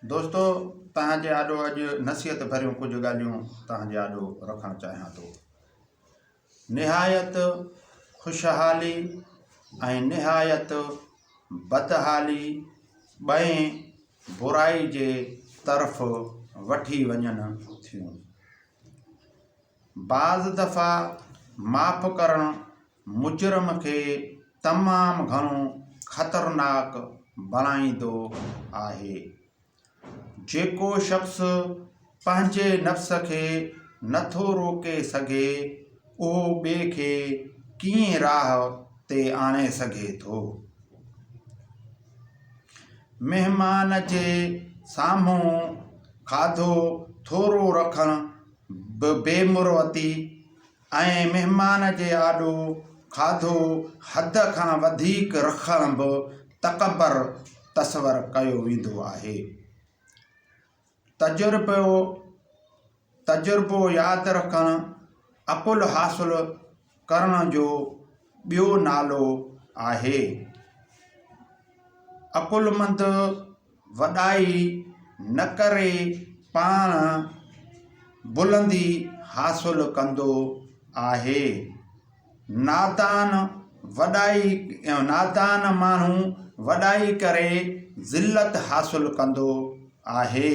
دوستو توهان جي آڏو اڄ نصيحت ڀريون ڪجهه ڳالهيون توهان جي آڏو رکڻ چاهيان ٿو نهايت خوشحالي ۽ نهايت بدحالي ٻئي برائي جي طرف وٺي وڃن ٿيون بعض دفعا معاف ڪرڻ مجرم کي تمام گهڻو خطرناڪ بڻائيندو آهي. جيڪو شخص پنهنجي نفس کي نٿو روڪي سگهي اهو ٻئي کي ڪيئن راهه تي آڻي سگهي ٿو. مهمان جي سامهون کاڌو ٿورو رکڻ به بي مروتي ۽ مهمان جي آڏو کاڌو حد کان وڌيڪ رکڻ به تڪبر تصور ڪيو ويندو آهي. تجربو تجربو ياد رکڻ عقل حاصل ڪرڻ جو ٻيو نالو آهي. عقلمند وڏائي نه ڪري پاڻ بلندي حاصل ڪندو آهي. نادان وڏائي نادان ماڻهو وڏائي ڪري ذلت حاصل ڪندو آهي.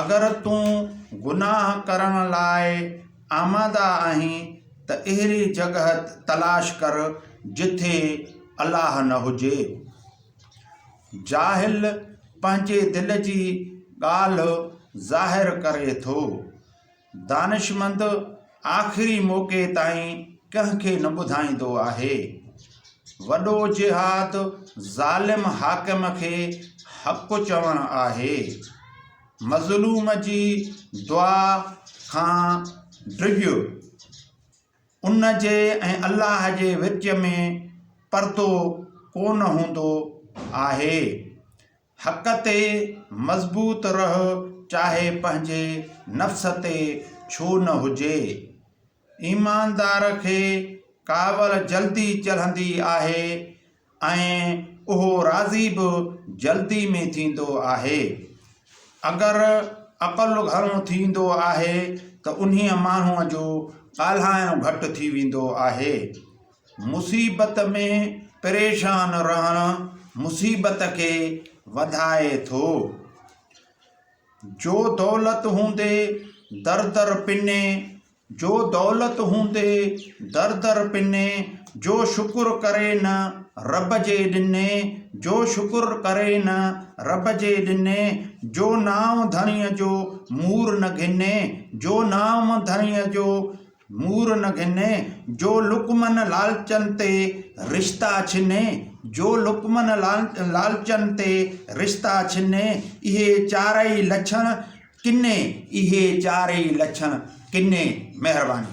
اگر تون گناهه ڪرڻ لاء آماده آهين ته اهڙي جڳهه تلاش ڪر جتي الله نه هجي. جاهل پنهنجي دل جي ڳالهه ظاهر ڪري ٿو. دانشمند آخري موقعي تائين ڪنهن کي نه ٻڌائيندو آهي. وڏو جهاد ظالم حاڪم کي حق چوڻ آهي. مظلوم جي دعا کان ڊڄ. ان جي ۽ الله جي وچ ۾ پردو ڪونه هوندو آهي. حق تي مضبوط رهه چاهي پنهنجي نفس تي ڇو نه هجي. ايماندار کي ڪاوڙ جلدي چڙهندي آهي ۽ اهو راضي به جلدي ۾ ٿيندو آهي. اگر عقل گهڻو ٿيندو آهي ته انهيء ماڻهوء جو ڳالهائڻ گهٽ ٿي ويندو آهي. مصيبت ۾ پريشان رهڻ مصيبت کي وڌائي ٿو. جو دولت هوندي در در پني، جو دولت هوندي در در پني، جو شڪر ڪري نه رب جي ڏني، جو شڪر ڪري نه رب جي ڏني، جو نانء ڌڻيء جو مور نه گهني، جو نانء ڌڻيء جو. مور نه گهني، جو لقمن لالچن تي رشتا ڇني، جو لقمن لالچن تي رشتا ڇني، اهي چارئي لڇڻ ڪني، اهي چارئي لڇڻ ڪني. مهرباني.